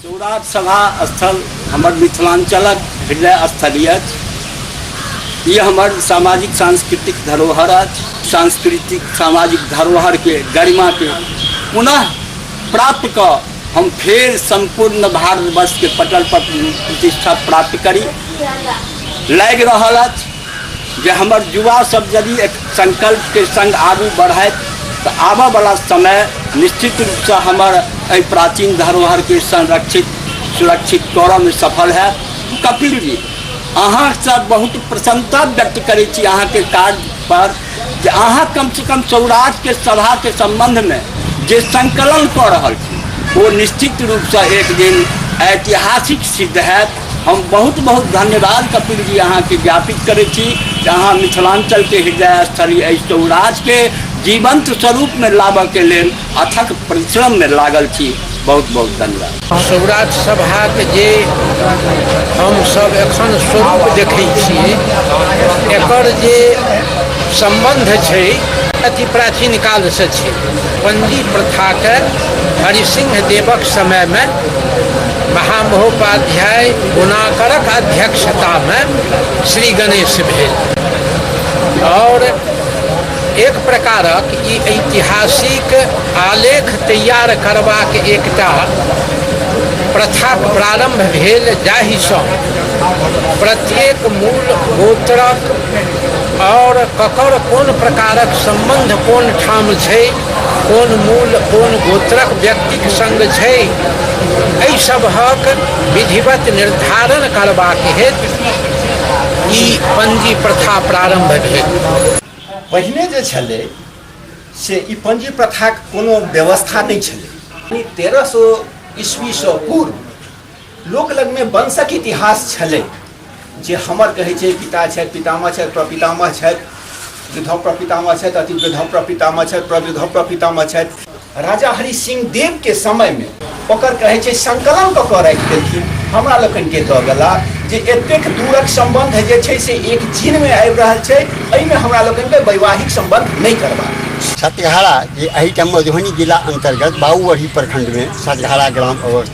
शिवराज सभा स्थल हमर मिथिलाञ्चलक हृदय स्थली अछि ई हमर सामाजिक सांस्कृतिक धरोहर अछि सांस्कृतिक सामाजिक धरोहरके गरिमाके पुनः प्राप्त कऽ हम फेर सम्पूर्ण भारतवर्षके पटल पर प्रतिष्ठा प्राप्त करी लागि रहल अछि जे हमर युवा सब यदि एक संकल्प के संग आगू बढ़ाए तऽ आबऽ वाला समय निश्चित रूप से हमर एहि प्राचीन धरोहर के संरक्षित सुरक्षित करऽ में सफल है कपिल जी अहाँ से बहुत प्रसन्नता व्यक्त करै छी अहाँ के कार्य पर जे अहाँ कम से कम सौराज के सभा के संबंध में जे संकलन कऽ रहल छी ओ निश्चित रूप से एक दिन ऐतिहासिक सिद्ध हैत हम बहुत बहुत धन्यवाद कपिल जी अहाँके ज्ञापित करै छी जे अहाँ मिथिलाञ्चलके हृदय स्थली एहि सौराजके जीवंत स्वरूपमे लाबऽके लेल अथक परिश्रममे लागल छी बहुत बहुत धन्यवाद सौराज सभाके जे हमसब एखन स्वरूप देखै छी एकर जे सम्बन्ध छै अति प्राचीन कालसँ छै पण्डी प्रथाके हरिसिंह देवक समयमे महामहोपाध्याय गुणाकरक अध्यक्षता में श्री गणेश भेल और एक प्रकारक ई ऐतिहासिक आलेख तैयार करबाक एकटा प्रथा प्रारंभ भेल जाहिसँ प्रत्येक मूल गोत्रक और ककर कोन प्रकारक संबंध कोन ठाम छै कोन मूल कोन गोत्रक व्यक्तिक संग छै एहि सभक विधिवत निर्धारण करबाक हेतु ई पंजी प्रथा प्रारंभ भेल पहिने जे छलै से ई पंजी प्रथाक कोनो व्यवस्था नहि छलै तेरह सौ ईस्वीसँ पूर्व लोक लगमे वंशक इतिहास छलै जे हमर कहै छै पिता छथि पितामह छथि प्रपितामह छथि वृद्धौ प्रपितामह छथि अति वृद्धौ प्रपितामह छथि प्रवृद्धौ प्रपितामह छथि राजा हरि सिंह देव के समय में ओकर कहे छै संकलन कऽ कऽ राखि देलखिन हमरा लोकनि के दऽ गेला जे एतेक दूरक संबंध जे छै से एक जीन में आबि रहल छै एहिमे हमरा लोकनि के वैवाहिक संबंध नहि करबाक अछि। सतघारा जे एहिठाम मधुबनी जिला अंतर्गत बाबूबढ़ी प्रखंड में सतघारा ग्राम अवस्थित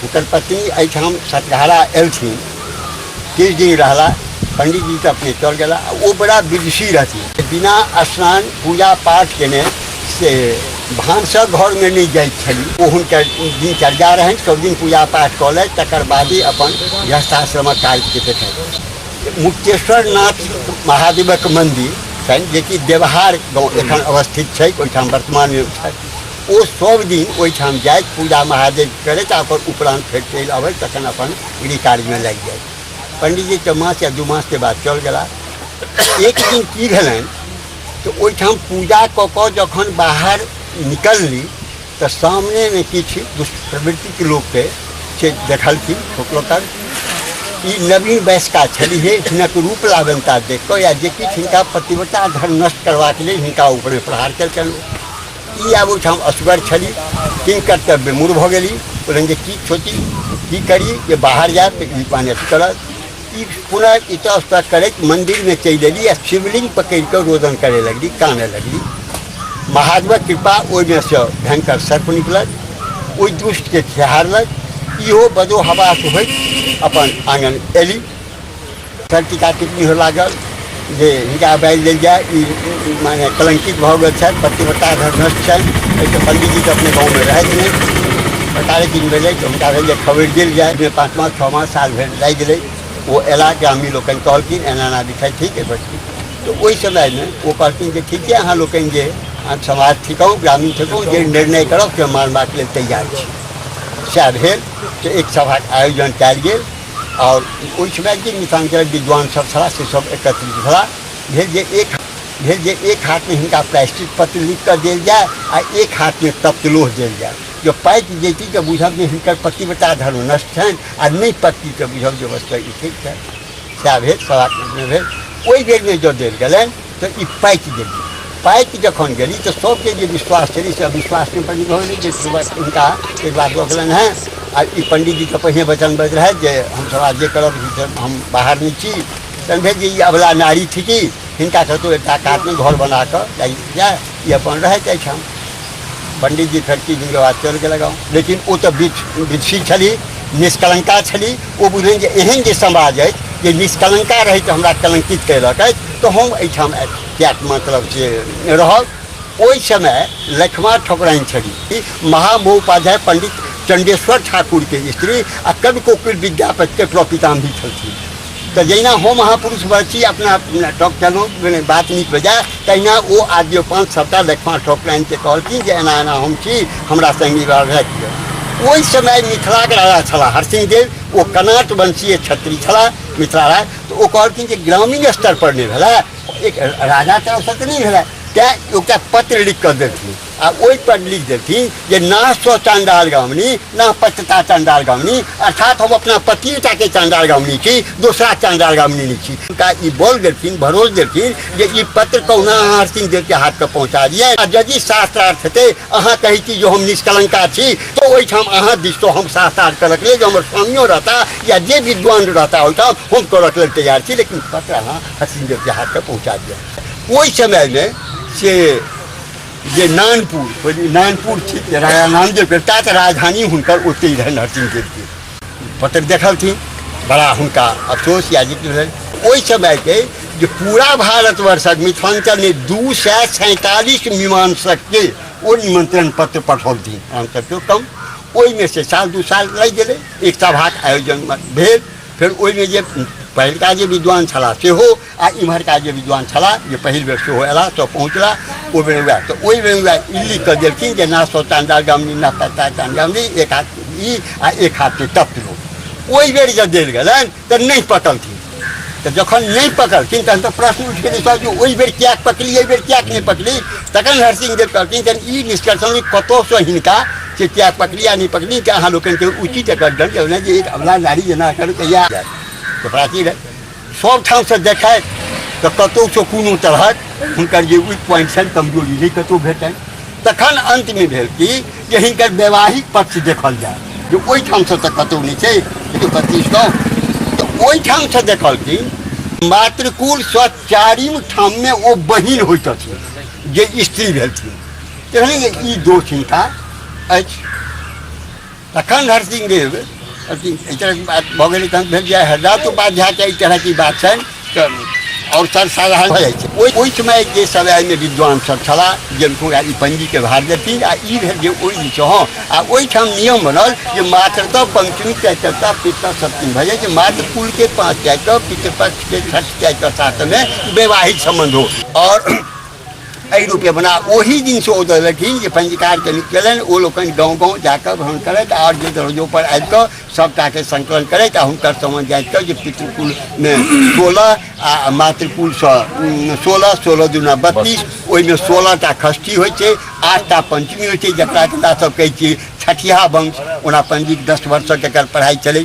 हुनकर पत्नी एहिठाम सतघारा एलथिन किछु दिन रहला पंडीजी तऽ अपने चल गेला आ ओ बड़ा विदुषी रहथिन बिना स्नान पूजा पाठ केने से भानसक घरमे नहि जाइत छली ओ हुनकर दिनचर्या रहनि सभ दिन पूजा पाठ कऽ लथि तकर बादे अपन गृहस्थाश्रमक कार्यके देखथि मुक्तेश्वर नाथ महादेवक मन्दिर छनि जेकि देवहार गाँव एखन अवस्थित छै ओहिठाम वर्तमानमे छथि ओ सब दिन ओहिठाम जाइत पूजा महादेव करैत आ ओकर उपरान्त फेर चलि अबैत तखन अपन गृह कार्यमे लागि जाइत पंडीजी तऽ मास या दू मासके बाद चल गेला एक दिन की भेलनि तऽ ओहिठाम पूजा कऽ कऽ जखन बाहर निकलली तऽ सामनेमे किछु दुष्प्रवृत्तिके लोकके से देखलखिन ठोकलकर ई नवीन वयस्का छलिहे हिनक रूप लावनता देख कऽ या जे किछु हिनका पतिव्रता धर्म नष्ट करबाक लेल हिनका ऊपरमे प्रहार केलकनि ई आब ओहिठाम असगर छली किन कर्तव्य मूर भऽ गेली कहलनि जे की सोची की करी जे बाहर जायब तऽ ई पानि अथी करत ई पुनः इतस्तः करैत मन्दिरमे चलि एली आ शिवलिंग पकड़ि कऽ रोदन करय लगली कानय लगली महादेवक कृपा ओहिमे सँ भयंकर सर्प निकलल ओहि दुष्टके खेहारलक इहो बदो हवास होइत अपन आङ्गन एली टीका टिप्पणी हो लागल जे हिनका बाजि देल जाय ई ई माने कलंकित भऽ गेल छथि पतिव्रता धर्मस्थ छनि एहिसँ पंडीजी तऽ अपने गाँवमे रहैत नहि सरकारे किन भेलै तऽ हुनका भेल जे खबरि देल जाय जे पाँच मास छओ मास साल भरि लागि गेलै ओ अयला ग्रामीण लोकनि कहलखिन एना एना विषय ठीक एहि पर ठीक। तऽ ओहि समयमे ओ कहलखिन जे ठीके अहाँ लोकनि जे अहाँ समाज थिकहु ग्रामीण थिकहु जे निर्णय करब से मानबाक लेल तैयार छी सएह भेल से एक सभाक आयोजन कयल गेल आओर ओहिठिना जे मिथिलाञ्चलक विद्वान सब छलाह से सब एकत्रित भेला भेल जे एक भेल जे एक हाथमे हिनका प्रायश्चित पत्र लिख कऽ देल जाय आ एक हाथमे तप्तलोह देल जाय जो पाकि जैती तऽ बुझब जे हिनकर पतिव्रता धर्म नष्ट छनि आ नहि पकती तऽ बुझब जे वस्तु ई ठीक छनि सएह भेल सभाकमे भेल ओहि बेरमे जँ देल गेलनि तऽ ई पाकि गेली पाकि जखन गेली तऽ सभके जे विश्वास छलै से अविश्वास नहि बनि रहल जे हुनका एक बार दऽ गेलनि हेँ आ ई पंडीजीके पहिने वचन बज रहै जे हमसभ आब जे करब से हम बाहर नहि छी तहन भेल जे ई अबला नारी थिकी हिनका कतहु एकटा कातमे घर बना कऽ जाय ई अपन रहैत अछि हम पंडित जी खड़की जिनके बाद चल गेल गाँव लेकिन ओ तऽ विधि छली निष्कलंका छली ओ बुझलनि जे एहन जे समाज अछि जे निष्कलंका रहै तऽ हमरा कलंकित कयलक अछि तऽ हम एहिठाम किएक मतलब से रहब ओहि समय लक्ष्मा ठकुराइन छली महामहोपाध्याय पंडित चंडेश्वर ठाकुरके स्त्री आ कवि कोकिल विद्यापतिके प्रपितामही छलखिन तऽ जहिना हम महापुरुष बची अपना टॉक चलो मने बात नीक हो जाए तहिना ओ आदियो पाँच सभटा देखमा ठोक लाइनके कहलखिन जे एना एना हम छी हमरा संगी रहै ओहि समय मिथिलाके राजा छलाह हरसिंह देव ओ कनाट वंशीय क्षत्रिय छलाह मिथिला राज तऽ ओ कहलखिन जे ग्रामीण स्तर पर नहि भेलै एक राजा तरफसँ तऽ नहि भेलै तैँ एकटा पत्र लिख कऽ देलखिन आ ओहि पर लिख देलथिन जे ना सौ चांडाल गामनी ना पचता चांडाल गामनी अर्थात हम अपना पतिटा के चांडाल गामनी छी दूसरा चांडाल गामनी नहीं छी उनका ई बोल देलथिन भरोस देलथिन जे ई पत्र कहुना अहाँ हरसिंह देव के हाथ पर पहुंचा दिए आ यदि शास्त्रार्थ हेतै अहाँ कहै छी जे हम निष्कलंका छी तो ओहिठाम अहाँ दिस तो हम शास्त्रार्थ करक लेल जे हमर स्वामियो रहता या जे विद्वान रहता ओहिठाम हम करक लेल तैयार छी लेकिन पत्र अहाँ हरसिंह देव के हाथ पर पहुंचा दिए ओहि समय में से जे नानपुर नानपुर छी राजा नामदेवके ता तऽ राजधानी हुनकर ओतहि रहनि नरसिंह देवके पत्र देखलथिन बड़ा हुनका अफसोस या जिक्र भेल ओहि समयके जे पूरा भारतवर्षक मिथिलाञ्चलमे दू सए सैंतालिस मीमांसकके ओ निमंत्रण पत्र पठौलथिन हमसभके कम ओहिमे से साल दू साल लागि गेलै एक सभाक आयोजन भेल फेर ओहिमे जे पहिलका जे विद्वान छलाह सेहो आ इम्हरका जे विद्वान छलाह जे पहिल बेर सेहो अयला तऽ पहुँचला ओहि बेर उएह तऽ ओहि बेर उएह ई लिख कऽ देलखिन जे ना सौ चांदा गमनी ना पत्ता चांदा गमनी एक हाथ ई आ एक हाथ के तप लो ओहि बेर जे देल गेलनि तऽ नहि पकलथिन तऽ जखन नहि पकड़थिन तहन तऽ प्रश्न उठि गेलै सर जे ओहि बेर किएक पकड़ी एहि बेर किएक नहि पकड़ी तखन हरसिंह देव कहलखिन तहन ई निष्कर्षण जे कतहुसँ हिनका से किएक पकड़ी आ नहि पकड़ी कि अहाँ लोकनिके उचित एकर दंड देलनि जे एक अबला नारी जेना एकर कहिया जायत तऽ प्राचीन सब ठाउँसँ देखैत तऽ कतहुसँ कोनो तरहक हुनकर जे वीक पॉइंट छनि कमजोरी नहि कतहु भेटनि तखन अन्तमे भेल कि जे हिनकर वैवाहिक पक्ष देखल जाय जे ओहिठामसँ तऽ कतहु नहि छै जे पच्चीस गाँव तऽ ओहिठामसँ देखलखिन मातृकुल सँ चारिम ठाममे ओ बहिन होइत अछि जे स्त्री भेलखिन एहन ई दोष हिनका अछि तखन हरसिंह देव अथी एहि तरहक बात भऽ गेलै तहन भेल जे हरदास उपाध्यायके एहि तरहके बात छनि तऽ आओर सर्वसाधारण भऽ जाइ छै ओहि ओहि समय जे सब एहिमे विद्वान सब छलाह जे पूरा ई पंजीके भार देथिन आ ई भेल जे ओहि दिनसँ हँ आ ओहिठाम नियम बनल जे मातृतः पंचमी चैतरता पितृ सप्तमी भऽ जाइ छै मात्र कुलके पाँच चैतव पितृपक्षके छठ चैतव सातमे वैवाहिक सम्बन्ध हो आओर एहि रूपे बना ओहि दिनसँ ओ देलखिन जे पंजीकार कनि केलनि ओ लोकनि गाँव गाँव जाकऽ भ्रमण करैत आओर जे दरजोपर आबि कऽ सभटाके संकलन करैत आ हुनकर समझ जाइत कऽ जे पितृकुलमे सोलह आ मातृकुलसँ उम, सोलह सोलह दूना बत्तीस ओहिमे सोलह टा खष्ठी होइ छै आठ टा पंचमी होइ छै जकरा हमरा सभ कहै छियै छठिया वंश ओना पंजीक दस वर्षक एकर पढ़ाइ चलै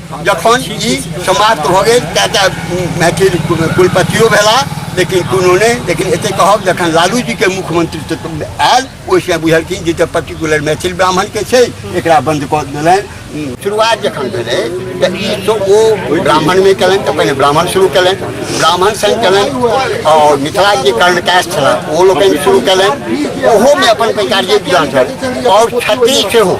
जखन ई समाप्त भऽ गेल ता ता मैथिल कुलपतियो भेला लेकिन कोनो नहि लेकिन एते कहब जखन लालू जी के मुख्यमंत्री से तुम आयल ओहिसँ बुझलखिन जे तऽ पर्टिकुलर मैथिल ब्राह्मण के छै एकरा बंद कऽ देलनि शुरुआत जखन भेलै तऽ ई तो ओ ब्राह्मण मे केलनि तऽ पहिने ब्राह्मण शुरू केलनि ब्राह्मण संग केलनि आओर मिथिला जे कर्णकाश छला ओ लोकनि शुरू केलनि ओहोमे अपन पैकार जे विद्वान छल आओर छत्तीस सेहो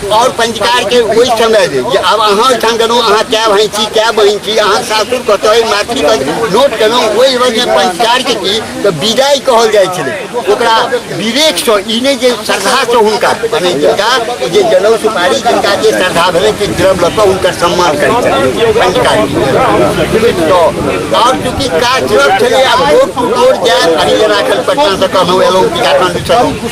और पंजीकार के वही समय दे जे आब अहाँ ओहिठाम गेलहुँ अहाँ कए भाई छी कए बहिन छी अहाँ सासुर कतय मैथिली कतय नोट केलहुँ ओहि वजह पंजीकार के की तऽ विदाई कहल जाइ छलै ओकरा विवेकसँ ई नहि जे श्रद्धासँ हुनका मने जिनका जे जनउ सुपारी जिनका जे श्रद्धा भेलै से द्रव लऽ कऽ हुनकर सम्मान करैत छलै पंजीकार तऽ आओर चूँकि काज छलै आब रोड टू रोड जायब हरिजन राखल पटनासँ कहलहुँ एलहुँ टीकाकरण छलहुँ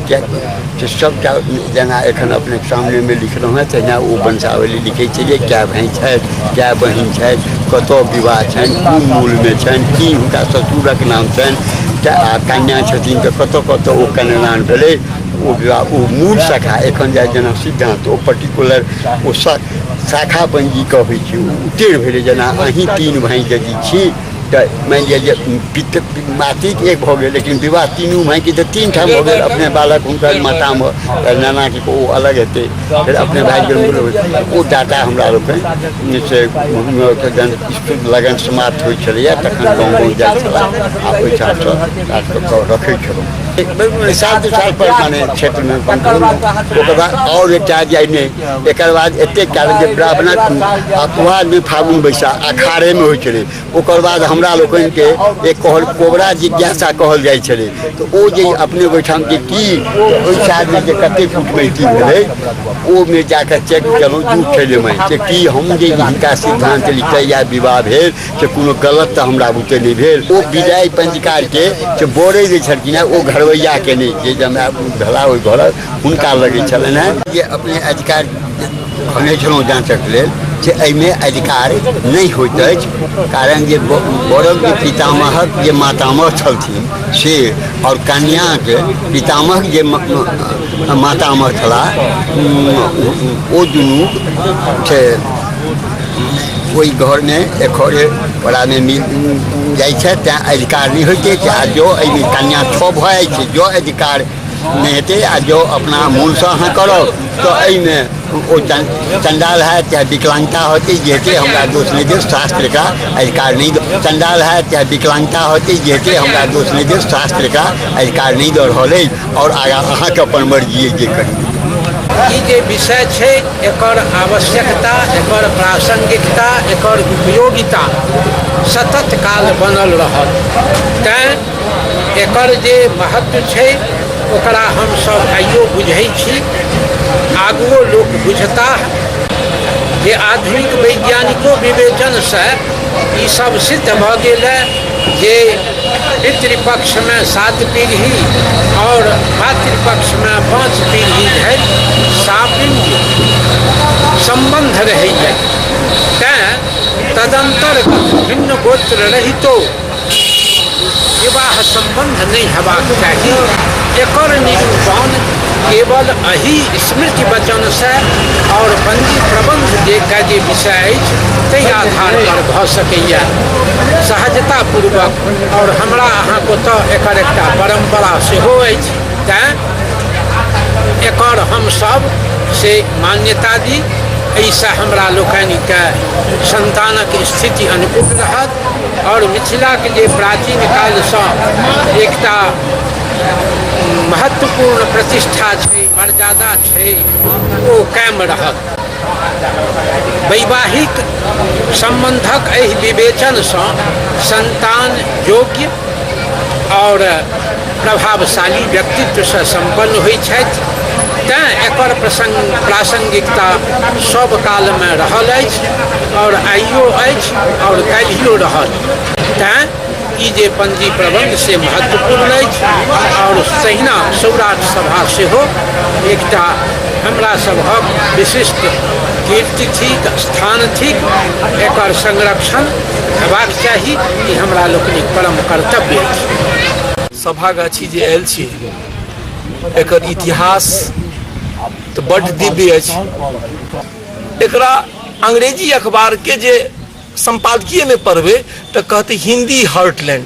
किएकि सभटा जेना एखन अपनेके सामनेमे लिखलहुँ हेँ तहिना ओ वंशावली लिखै छै जे कए भाइ छथि कए बहिन छथि कतय विवाह छनि कोन मूलमे छनि की हुनका ससुरक नाम छनि आ कन्या छथिन तऽ कतय कतय ओ कन्यादान भेलै ओ विवाह ओ मूल शाखा एखन जाइ जेना सिद्धान्त ओ पर्टिकुलर ओ शाखा बनि जी कऽ होइ छै ओ उतेर भेलै जेना अहीँ तीन भाइ यदि छी तऽ मानि लिअ जे पित मातृक एक भऽ गेल लेकिन विवाह तीनू मायके तऽ तीन ठाम भऽ गेल अपने बालक हुनकर मातामे तऽ नानाके ओ अलग हेतै फेर अपने भाय गेल ओ डाटा हमरा लोकनि से जहन स्कूल लगन समाप्त होइ छलैए तखन गाँव गाँव जाइ छलए आ ओहिठामसँ काजकऽ रखै छलहुँ एक बेर सात साल पर माने क्षेत्रमे ओकर बाद आओर एकटा जे नहि एक बाद एत कारण जे ब्राह्मणक अपवाद भी फागुन बैसा अखाड़े में हो ओकर बाद हमरा लोग के एक कहल कोबरा जिज्ञासा कहल जाए छे तो वो जे अपने ओठाम के की ओहि साल में जे कते फुट में की भेलै ओ में जाकर चेक केलहुँ झूठ छलै मैं जे की हम जे हिनका सिद्धांत लिखै या विवाह भेल से कोनो गलत तो हमरा बुते नहीं भेल ओ विदाई पंचकार के से बोरे जे छलखिन ओ घरवैया के नहीं जे जमाय भेला ओहि घरक हुनका लगैत छलनि हेँ जे अपने अधिकार कहने छलहुँ जाँचक लेल से एहिमे अधिकार नहि होइत अछि कारण जे ब- बड़क जे पितामहक जे मातामह छलथिन से आओर कन्याक पितामहक जे म- म- मातामह छलाह उम, ओ- ओ दुनू से ओहि घरमे एखरे पड़ामे मिल जाइ छै तैँ अधिकार नहि होइत अछि आ जँ एहिमे कन्या छओ भऽ जाइ छै जँ अधिकार नहि हेतै आ जँ अपना मोनसँ अहाँ करब तऽ एहिमे ओ चण्डाल होयत चाहे विकलाङ्गता होतै जे हेतै हमरा दोष नहि देब शास्त्रका अधिकार नहि दऽ चण्डाल होयत चाहे विकलाङ्गता होतै जे हेतै हमरा दोष नहि देब शास्त्रका अधिकार नहि दऽ रहल अछि आओर आगाँ अहाँके अपन मर्जी अछि जे करी ई जे विषय छै एकर आवश्यकता एकर प्रासङ्गिकता एकर उपयोगिता सतत काल बनल रहत तैँ एकर जे महत्व छै ओकरा हमसभ आइयो बुझै छी आगुओ लोक बुझता जे आधुनिक वैज्ञानिको विवेचनसँ ई सब सिद्ध भऽ गेल है जे पितृपक्षमे सात पीढ़ी आओर मातृपक्षमे पाँच पीढ़ी धरि सापिंग सम्बन्ध रहैए तैँ तदन्तर्गत भिन्न गोत्र रहितो विवाह सम्बन्ध नहि हेबाक चाही एकर निरूपण केवल एहि स्मृति वचनसँ आओर बन्दी प्रबन्ध देखके जे विषय अछि ताहि आधारपर भऽ सकैए सहजतापूर्वक आओर हमरा अहाँके ओतऽ एकर एकटा परम्परा सेहो अछि तैँ एकर हमसभ से मान्यता दी एहिसँ हमरा लोकनिके सन्तानक स्थिति अनुकूल रहत आओर मिथिलाके जे प्राचीन कालसँ एकटा महत्वपूर्ण प्रतिष्ठा छै मर्यादा छै ओ कायम रहत वैवाहिक सम्बन्धक एहि विवेचनसँ सन्तान योग्य आओर प्रभावशाली व्यक्तित्वसँ सम्पन्न होइत छथि तैँ एकर प्रसङ्ग प्रासङ्गिकता सब कालमे रहल अछि आओर आइयो अछि आओर काल्हियो रहत तैँ ई जे पंजी प्रबंध से महत्वपूर्ण अछि आओर तहिना सौराठ सभा सेहो एकटा हमरा सभक विशिष्ट कीर्ति थिक स्थान थिक एकर संरक्षण हेबाक चाही ई हमरा लोकनिक परम कर्तव्य अछि सभागाछी जे आयल छी एकर इतिहास तऽ बड्ड दिव्य अछि एकरा अंग्रेजी अखबारके जे सम्पादकीयमे पढ़बै तऽ कहतै हिन्दी हर्टलैंड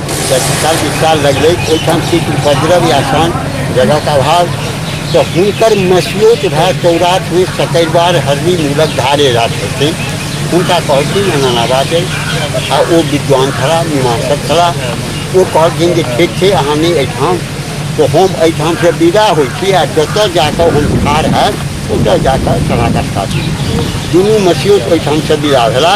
साल विशाल लगले ओहिठाम किछु उपद्रव या शांत जगह का अभाव तो हुनकर मसियोत भा चौराठ में सकैरबार हरदी मूलक धारे रात होते हुनका कहलखिन अनाना बात है आ ओ विद्वान खड़ा मीमांसक खड़ा ओ कहलखिन जे ठीक छै अहाँ नहि एहिठाम तो हम एहिठाम से विदा होइ छी आ जतऽ जाकऽ हम ठाढ़ हैब ओतऽ जाकऽ समागत काटी दुनू मसियोत ओहिठाम से विदा भेला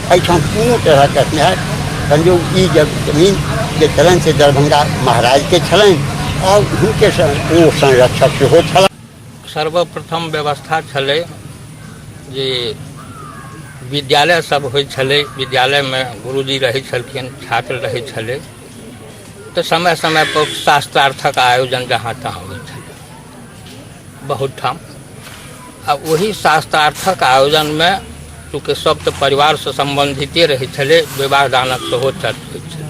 एहिठाम कोनो तरहक स्नेहक संयोग ई जब जमीन जे छलनि से दरभंगा महाराजके छलनि आओर हुनके ओ संरक्षक सेहो छलनि सर्वप्रथम व्यवस्था छलै जे विद्यालय सब होइ छलै विद्यालयमे गुरुजी रहै छलखिन छात्र रहै छलै तऽ समय समयपर शास्त्रार्थक आयोजन जहाँ तहाँ होइ छलै बहुत ठाम आ ओही शास्त्रार्थक आयोजनमे चूँकि सभ तऽ परिवारसँ सम्बन्धिते रहै छलै विवाह दानक सेहो चर्च होइ छलै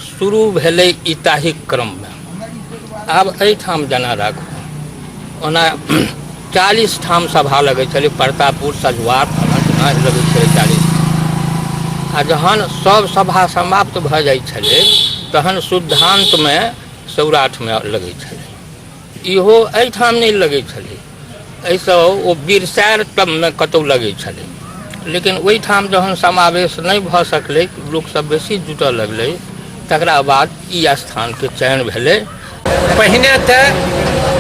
शुरू भेलै ई ताहिक क्रममे आब एहिठाम जेना राखू ओना चालीस ठाम सभा लगै छलै प्रतापुर सजुआर फलाँ लगै छलै चालीस आ जहन सभ सभा समाप्त भऽ जाइ छलै तहन शुद्धान्तमे सौराठमे लगै छलै इहो एहिठाम नहि लगै छलै एहिसँ ओ बिरसार तबमे कतहु लगै छलै लेकिन ओहिठाम जहन समावेश नहि भऽ सकलै लोकसभ बेसी जुटऽ लगलै तकरा बाद ई स्थानके चयन भेलै पहिने तऽ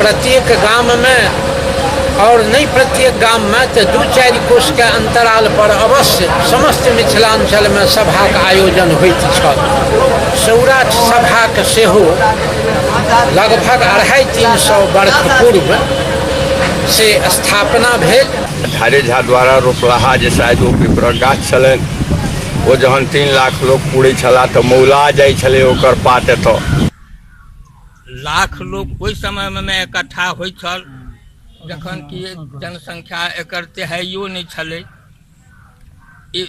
प्रत्येक गाममे आओर नहि प्रत्येक गाममे तऽ दू चारि कोषके अन्तरालपर अवश्य समस्त मिथिलाञ्चलमे सभाक आयोजन होइत छल सौरा सभाक सेहो लगभग अढ़ाइ तीन सौ वर्ष पूर्व से स्थापना भेल झारे झा द्वारा रोपलाहा जे शायद ओ पिपरक गाछ छलनि ओ जहन तीन लाख लोक पूरै छलाह तऽ मौला जाइ छलै ओकर पात एतऽ लाख लोक ओहि समयमे एकट्ठा होइ छल जखन कि जनसङ्ख्या एकर तेहाइयो नहि छलै ई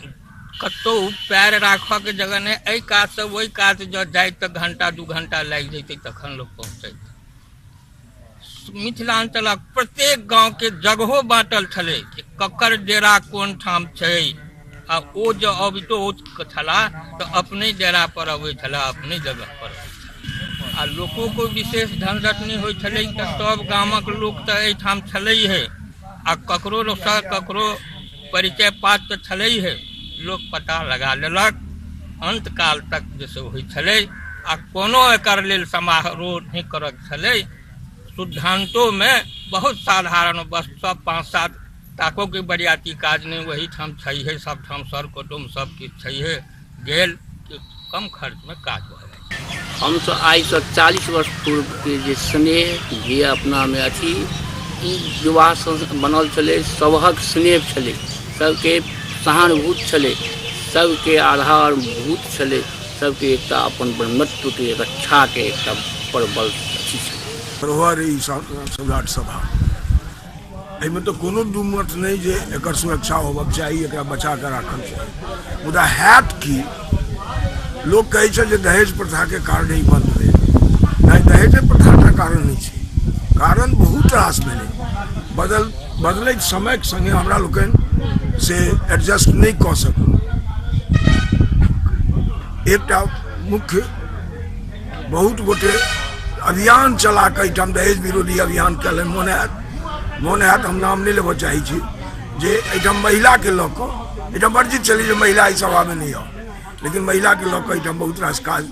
कतहु पैर राखऽके जगह नहि एहि कातसँ ओहि कात जँ जाइत तऽ घण्टा दू घण्टा लागि जैतै तखन लोक पहुँचैत मिथिलाञ्चलक प्रत्येक गाँवके जगहो बाँटल छलै कि ककर डेरा कोन ठाम छै आ ओ जे अबितो छलाह तऽ अपने डेरा पर अबै छलाह अपने जगह पर आ लोको को विशेष धन रखने होइ छलै तऽ सब गामक लोक तऽ एहिठाम छलै हे आ ककरो सँ ककरो परिचय पात तऽ छलै हे लोक पता लगा लेलक अंत काल तक जे से होइ छलै आ कोनो एकर लेल समारोह नहि करऽ छलै सिद्धान्तोमे बहुत साधारण बस सब पाँच सात ताकोके बरियाती काज नहि ओहीठाम छैहे सबठाम सर कुटुम्ब सबकिछु छैहे गेल कि कम खर्चमे काज भऽ जाइ हमसब आइसँ चालीस वर्ष पूर्वके जे स्नेह जे अपनामे अछि ई विवाह बनल छलै सबहक स्नेह छलै सबके सहानुभूत छलै सबके आधारभूत छलै सबके एकटा अपन ब्रह्मत्व के रक्षा के एकटा प्रबल अथी छै प्रभा रे ई सा- सम्राट सभा एहिमे तऽ कोनो दू मत नहि जे एकर सुरक्षा होबक चाही एकरा बचा कऽ राखल चाही मुदा हैत की लोक कहै छै जे दहेज प्रथाके कारणे ई बन्द भेल नहि दहेजे प्रथाटा कारण नहि छै कारण बहुत रास भेलै बदल बदलैत समयक संगे हमरा लोकनि से एडजस्ट नहि कऽ सकू एकटा मुख्य बहुत गोटे अभियान चला कऽ एहिठाम दहेज विरोधी अभियान कयलनि मोन होयत मोन होयत हम नाम नहि लेबऽ चाहै छी जे एहिठाम महिलाके लऽ कऽ एहिठाम वर्जित छलै जे महिला एहि सभामे नहि आउ लेकिन महिलाके लऽ कऽ एहिठाम बहुत रास काज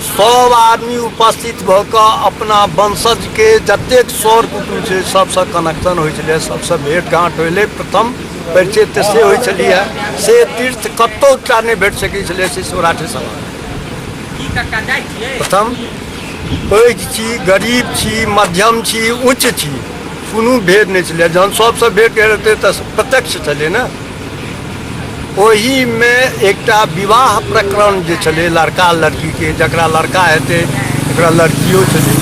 सभ आदमी उपस्थित भऽ कऽ अपना वंशजके जतेक सर कुटुम छै सभसँ कनेक्शन होइ छलै सभसँ भेट घाँट होइले प्रथम परिचय तऽ से होइ छलियै से तीर्थ कतहु टा नहि भेट सकै छलै से सौराठे सभा प्रथम पैघ छी गरीब छी मध्यम छी उच्च छी कोनो भेद नहि छलै जहन सभसँ भेट हेतै तऽ प्रत्यक्ष छलै ने ओहिमे एकटा विवाह प्रकरण जे छलै लड़का लड़कीके जकरा लड़का हेतै ओकरा लड़कियो छलै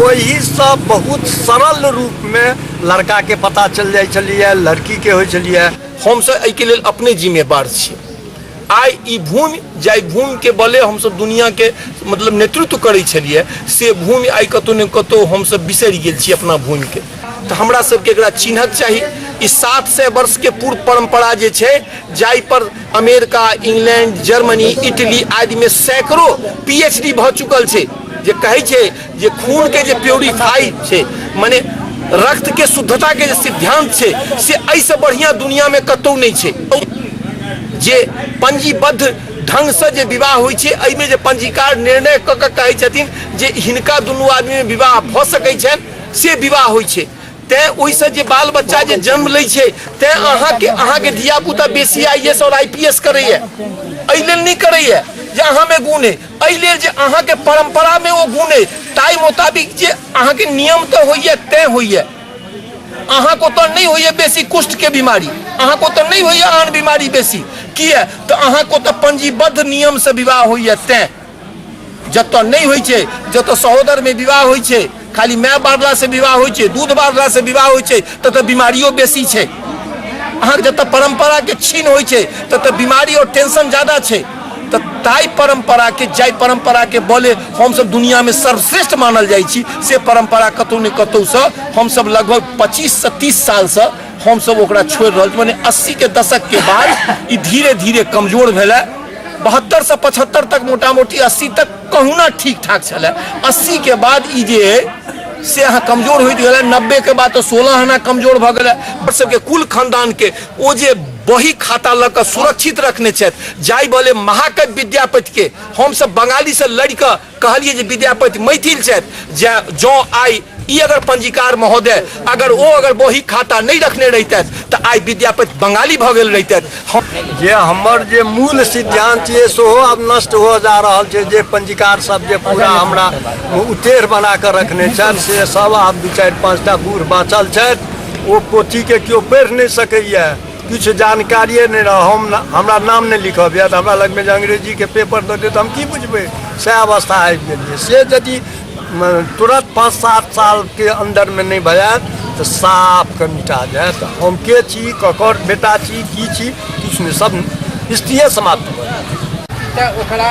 ओहिसँ बहुत सरल रूपमे लड़काके पता चलि जाइ छलिए लड़कीके होइ छलिए हमसब एहिके लेल अपने जिम्मेवार छी आइ ई भूमि जाहि भूमिके बले हमसब दुनिआके मतलब नेतृत्व करै छलिए से भूमि आइ कतहु ने कतहु हमसब बिसरि गेल छी अपना भूमिके तऽ हमरा सबके एकरा चिन्हक चाही ई सात सए वर्ष के पूर्व परंपरा जे छै जाहि पर अमेरिका इंग्लैंड जर्मनी इटली आदि में सैकड़ों पीएचडी भऽ चुकल छै जे कहै छै जे खून के जे प्योरीफाई छै माने रक्त के शुद्धता के जे सिद्धांत छै से एहिसँ बढ़िया दुनिया में कतौ नहि छै जे पंजीबद्ध ढंग से जे विवाह होइ छै एहिमे जे पंजीकार निर्णय कऽ कऽ कहै छथिन जे हिनका दुनू आदमी में विवाह भऽ सकै छनि से विवाह होइ छै तैँ ओहिसँ जे बाल बच्चा जे जन्म लै छै तैँ अहाँके अहाँके धियापुता बेसी आई एस आओर आई पी एस करैए एहि लेल नहि करैए जे अहाँमे गुण अइ एहि लेल जे अहाँके परम्परामे ओ गुण अइ ताहि मोताबिक जे अहाँके नियम तऽ होइए तैँ होइए अहाँके ओतऽ नहि होइए बेसी कुष्ठके बीमारी अहाँके ओतऽ नहि होइए आन बीमारी बेसी किए तऽ अहाँके ओतऽ पंजीबद्ध नियमसँ विवाह होइए तैँ जतऽ नहि होइ छै जतऽ सहोदर में विवाह होइ छै खाली माय बारला से विवाह होइ छै दूध बारला से विवाह होइ छै ततऽ बीमारियो बेसी छै अहाँ जतऽ परंपरा के छीन होइ छै ततऽ बीमारी और टेंशन ज्यादा छै तऽ ताहि परंपरा के जाहि परंपरा के बोले हमसब दुनिया में सर्वश्रेष्ठ मानल जाइ छी से परंपरा कतौ ने कतौ से हमसब लगभग 25 से 30 साल से हमसब ओकरा छोड़ रहल छी माने 80 के दशक के बाद ई धीरे धीरे कमजोर भेलै बहत्तर से पचहत्तर तक मोटा मोटी अस्सी तक कहुना ठीक ठाक छलै अस्सी के बाद ई जे अइ से अहाँ कमजोर होइत गेलै नब्बे के बाद तऽ सोलह आना कमजोर भऽ गेलै हमर सबके कुल खानदान के ओ जे बही खाता लऽ कऽ सुरक्षित रखने छथि जाहि बले महाकवि विद्यापति के हमसब बंगाली से लड़ि कऽ कहलिए जे विद्यापति मैथिल छथि जे जँ आइ ई अगर पंजीकार महोदय अगर ओ अगर बही खाता नहीं रखने रहते तो आई विद्यापति बंगाली भ गए रहते जे हमर जे मूल सिद्धांत ये सो अब नष्ट हो जा रहा है जे पंजीकार सब जे पूरा हमरा उतेर बना कर रखने छथि से सब आब दू चारि पाँचटा बूढ़ बाँचल छथि ओ पोथीके केओ पढ़ि नहि सकैए किछु जानकारिए नहि रहै हम हमरा नाम नहि लिखब यऽ तऽ हमरा लगमे जे अंग्रेजीके पेपर दऽ देत तऽ हम की बुझबै सएह अवस्था आबि गेल यऽ से यदि तुरंत पाँच सात सालके अन्दरमे नहि भऽ जायत तऽ साफ कऽ मिटा जायत हम के छी ककर बेटा छी की छी किछु नहि सब स्थितिए समाप्त भऽ जायत तऽ ओकरा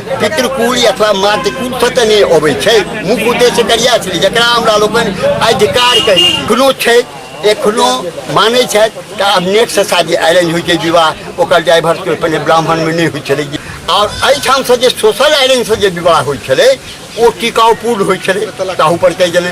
पितृकुल अथवा मातृकुल कतऽ नहि अबै छै मुख्य उद्देश्य करिया छलै जकरा हमरा लोकनि आइ धिकार कही कोनो छै एखनो मानै छथि तऽ आब नेटसँ शादी आयरन होइ छै विवाह ओकर ड्राइवर पहिने ब्राह्मणमे नहि होइ छलै आओर एहिठामसँ जे सोशल आयरनसँ जे विवाह होइ छलै ओ टिकाउपूर्ण होइ छलै ताहूपर कहि देलनि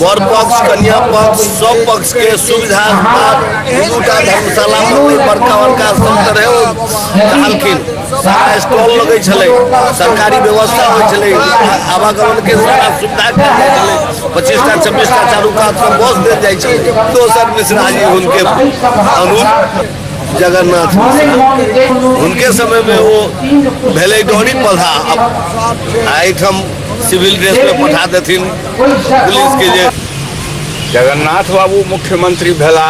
वर पक्ष कन्या पक्ष सब पक्ष के सुविधा दूटा धर्मशाला में बड़का बड़का संत रहे रहलखिन सारा स्टॉल लगे छले सरकारी व्यवस्था हो छले आवागमन के सारा सुविधा के लिए छले पच्चीस टा छब्बीस टा चारू कात पर बस दे जाए छे दोसर मिश्रा जी उनके अनुज जगन्नाथ मिश्रा उनके समय में वो भेले डोरी पधा अब आइठम सिविल ड्रेस में पठा देथिन पुलिस के जे जगन्नाथ बाबू मुख्यमंत्री भेला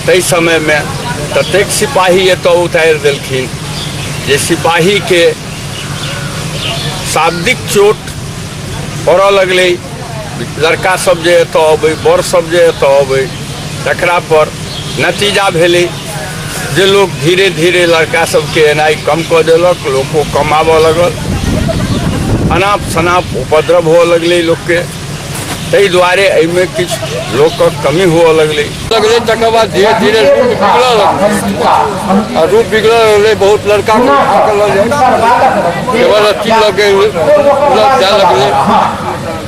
ताहि समय में ततेक सिपाही एतऽ उतारि देलखिन जे सिपाही के शाब्दिक चोट पड़ऽ लगलै लड़का सब जे एतऽ अबै बड़ सब जे एतऽ अबै तकरा पर नतीजा भेलै जे लोग धीरे धीरे लड़का सबके एनाइ कम कऽ देलक लोको कम आबऽ लगल अनाप शनाप उपद्रव हुअ लगलै लोकके ताहि दुआरे एहिमे किछु लोकक कमी हुअ लगलै लगलै तकर बाद धीरे धीरे रूप बिगड़ऽ लगलै आ रूप बिगड़ऽ लगलै बहुत लड़का के उठा कऽ लऽ जाय केवल अथी लऽ के लऽ जाय लगलै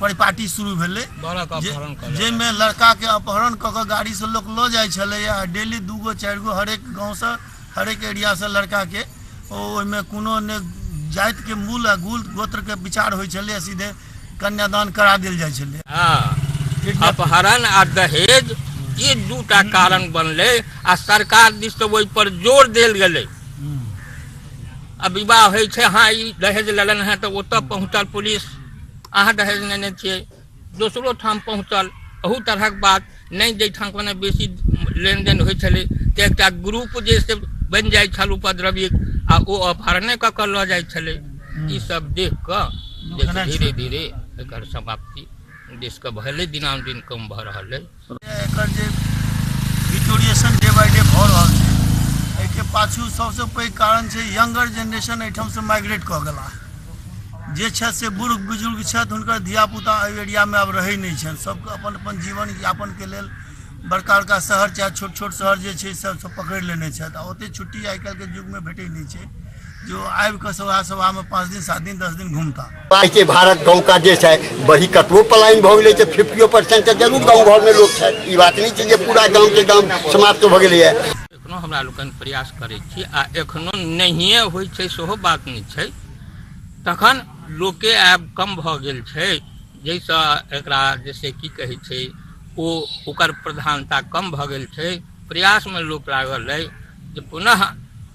परिपाटी शुरू भेलै बालक जे- अपहरण कऽ जाहिमे लड़काके अपहरण कऽ कऽ गाड़ीसँ लोक लऽ जाइ छलै आ डेली दू गो चारि गो हरेक गाँवसँ हरेक एरियासँ लड़काके ओ ओहिमे कोनो ने जातिके मूल आ गुल गोत्रके विचार होइ छलै आ सीधे कन्यादान करा देल जाइ छलै हाँ, अपहरण आ दहेज ई दूटा कारण बनलै आ सरकार दिस से ओहि पर जोर देल गेलै आ विवाह होइ छै हाँ ई दहेज लेलन है तऽ ओतऽ पहुँचल पुलिस अहाँ दहेज नेने छियै दोसरो ठाम पहुँचल अहू तरहक बात नहि जाहिठाम कोनो बेसी लेनदेन होइत छलै तऽ एकटा ग्रुप जे से बनि जाइत छल उपद्रवी आ ओ अपहरणे कऽ कऽ लऽ जाइत छलै ई सब देख कऽ जे धीरे धीरे एकर समाप्ति देशके भेलै दिनानुदिन कम भऽ रहल अइ एकर जे डिटोरिएशन डे बाय डे भऽ रहल छै एहिके पाछू सभसँ पैघ कारण छै यंगर जेनरेशन एहिठामसँ माइग्रेट कऽ गेला जे छथि से बूढ़ बुजुर्ग छथि हुनकर धियापुता एहि एरियामे आब रहै नहि छनि सभके अपन अपन जीवन यापनके लेल बड़का बड़का शहर चाहे छोट छोट शहर जे छै सभसँ पकड़ि लेने छथि आ ओतेक छुट्टी आइ काल्हिके युगमे भेटै नहि छै जो आबि कऽ सभा सभामे पाँच दिन सात दिन दस दिन घूमता पाइ के भारत गाँव का जे छै वही कतबो पलायन भऽ गेलै तऽ फिफ्टियो परसेंट तऽ जरूर गाँव घरमे लोक छै ई बात नहि छै जे पूरा गामके गाम समाप्त भऽ गेलैए एखनो हमरा लोकनि प्रयास करै छी आ एखनो नहिए होइ छै सेहो बात नहि छै तखन लोके आब कम भऽ गेल छै जाहिसँ एकरा जैसे की कहै छै ओ ओकर प्रधानता कम भऽ गेल छै प्रयासमे लोक लागल अइ जे पुनः